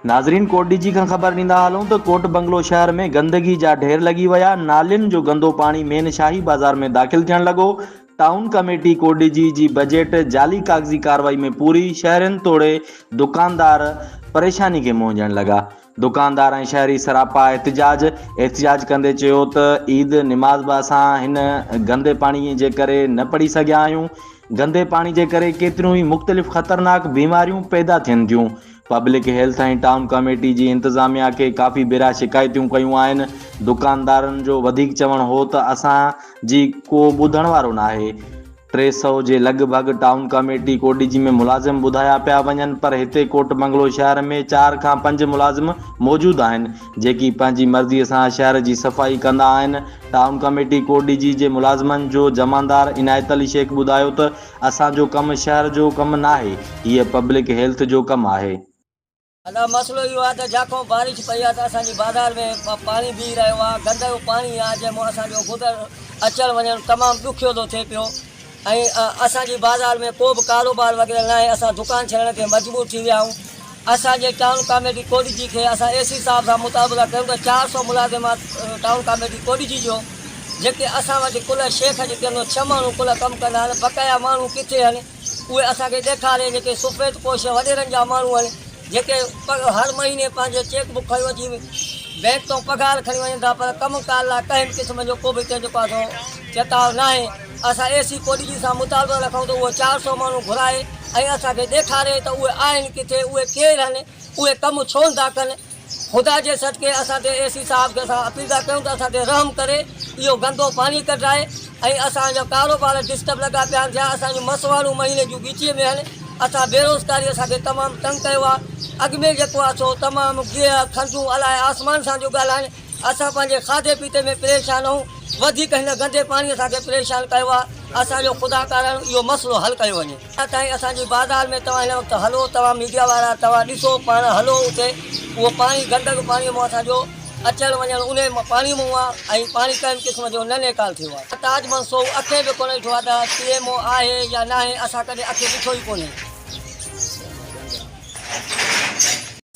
ناظرين ڪوٽ ڊي جي کان خبر ڏيندا هلون ته ڪوٽ بنگلو شهر ۾ گندگي جا ڍير لڳي ويا، نالين جو گندو پاڻي مين شاهي بازار ۾ داخل ٿيڻ لڳو، town committee Kot Diji جي بجيٽ جعلي ڪاغذي ڪارروائي ۾ پوري، شهرين توڙي دڪاندار پريشاني کي منهنجڻ لڳا، دڪاندار ۽ شهري سراپا احتجاج، احتجاج ڪندي چيو ته عيد نماز به اسان هن گندي پاڻي جي ڪري نه پڙهي سگهيا آهيون، گندي پاڻي جي ڪري ڪيتريون ئي مختلف خطرناڪ بيماريون پيدا ٿين ٿيون، پبلڪ هيلٿ ۽ ٽائون ڪاميٽي جي انتظاميا کي ڪافي ڀيرا شڪايتون ڪيون آهن، دڪاندارن جو وڌيڪ چوڻ هو ته اسان جي ڪو ٻڌڻ وارو ناهي، ٽي سؤ جي لڳ ڀڳ ٽائون ڪاميٽي ڪوٽڏيجي ۾ ملازم ٻڌايا پيا وڃن پر هتي ڪوٽ بنگلو شهر ۾ چار کان پنج ملازم موجود آهن جيڪي پنهنجي مرضي سان شهر جي صفائي ڪندا آهن، ٽائون ڪاميٽي ڪوٽڏيجي جي ملازمن جو جمعندار عنايت علي شيخ ٻڌايو ته اسان جو ڪم شهر جو ڪم ناهي هيء پبلڪ هيلٿ جو ڪم آهي. ادا مسئلو اهو آهي ته جاکو بارش پئي آهي ته اسان جي بازار ۾ پاڻي بيهي رهيو آهي گندڙو پاڻي آهي جنهن مان اسان جو گذر اچڻ وڃڻ تمام ڏکيو ٿو ٿئي پيو ۽ اسان جي بازار ۾ ڪو به ڪاروبار وغيره ناهي اسان دڪان ڇڏڻ تي مجبور ٿي ويا آهيون. اسان جي ٽائون ڪاميٽي ڪوڏجي کي اسان اي سي صاحب سان مطابقه ڪيون ته چار سؤ ملازمات ٽائون ڪاميٽي ڪوڏجي جو جيڪي اسان وٽ ڪلهه شيخ جي ڪيون ڇهه ماڻهو ڪلهه ڪم ڪندا آهن بقايا ماڻهو ڪٿي آهن اهي اسان کي ڏيکارين جيڪي سفيد پوش وڏيرن جا ماڻهو آهن جيڪي هر مهيني پنهنجي چيڪ بڪ کڻي اچي بئنڪ تون پگهار کڻي وڃن ٿا پر ڪم ڪار لاء ڪنهن به قسم جو ڪو به ڪنهن جو ڪو چتاء ناهي اسان اي سي ڪوڏي جي سان مطالبو رکون ته اهو چار سؤ ماڻهو گهرائي ۽ اسان کي ڏيکاري ته اهي آهن ڪٿي، اهي ڪير هن، اهي ڪم ڇو نٿا ڪن. خدا جي صدقي اسان تي اي سي صاحب کي اسان اپيل ٿا ڪيون ته اسان تي رحم ڪري اهو گندو پاڻي ڪڍرائي ۽ اسان جا ڪاروبار ڊسٽرب لڳا پيا آهن ٿيا اسان جون مسواڙون مهيني جون ڳچيء ۾ آهن اسان بيروزگاري اسان کي تمام تنگ ڪيو آهي اڳ ۾ جيڪو آهي سو تمام گيهه کنڊون الاهي آسمان سان ٿيون ڳالهائن اسان پنهنجي کاڌي پيتي ۾ پريشان آهيون وڌيڪ هن گندي پاڻي اسان کي پريشان ڪيو آهي اسان جو خدا ڪارڻ اهو مسئلو حل ڪيو وڃي اڃا تائين اسان جي بازار ۾ توهان هن وقت هلو توهان ميڊيا وارا توهان ڏسو پاڻ هلو اتي اهو پاڻي گندگ پاڻي مون اسان جو اچڻ وڃڻ انهي پاڻي مون آهي ۽ پاڻي ڪنهن قسم جو نه نيڪال ٿيو آهي تاج منصور اکين به ڪونه ڏٺو آهي ته پي ايم او آهي يا ناهي اسان ڪڏهن اکين ڏٺو ئي ڪونهي.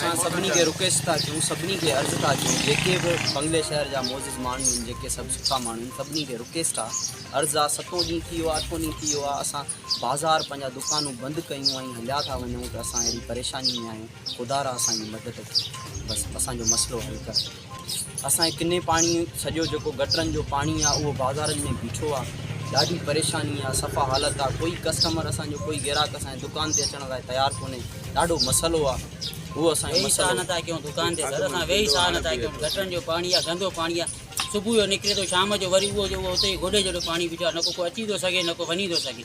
اسان سڀني کي رڪويسٽ ٿا ڪيون سڀني کي عرض ٿا ڪيون جيڪي به بنگلي شهر جا معزز ماڻهو آهن جيڪي سڀ سٺا ماڻهو آهن سڀني کي رڪويسٽ آهي عرض آهي ستون ڏينهن ٿي ويو آهي اٺون ڏينهن ٿي ويو آهي اسان بازار پنهنجا دڪانون بند ڪيون ۽ هليا ٿا وڃون ته اسان اهڙي پريشاني ۾ آهيون خدارا اسان جي مدد ڪيو بس اسان جو مسئلو حل ڪر اسان کي ڪني پاڻي سڄو جيڪو گٽرن جو پاڻي آ اهو بازارن ۾ بيٺو آ ڏاڍي پريشاني آ صفا حالت آ ڪوئي ڪسٽمر اسان جو ڪوئي گراهڪ اسان جي دڪان تي اچڻ لاء تيار ڪوني ڏاڍو مسئلو آ اهو اسان جو مسئلو نه ٿا ڪيون دڪان تي سر اسان ويهي ساهه نه ٿا ڪيون گٽرن جو پاڻي آ گندو پاڻي آ صبح جو نڪري ٿو شام جو وري اهو جو اهو اتي گوڏي جهڙو پاڻي بيٺو آ نه ڪو اچي ٿو سگهي نه ڪو وڃي ٿو سگهي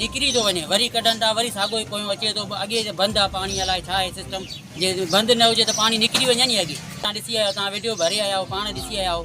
نڪري ٿو وڃي وري ڪڍن ٿا وري ساڳو ئي پويون اچي ٿو اڳي جو بند آ پاڻي الائي ڇا آهي سسٽم جي بند نه هجي ته پاڻي نڪري وڃي ني اڳي تان ڏسي آيا تان وڊيو ڀري آيا آهو پاڻ ڏسي آيا آهو.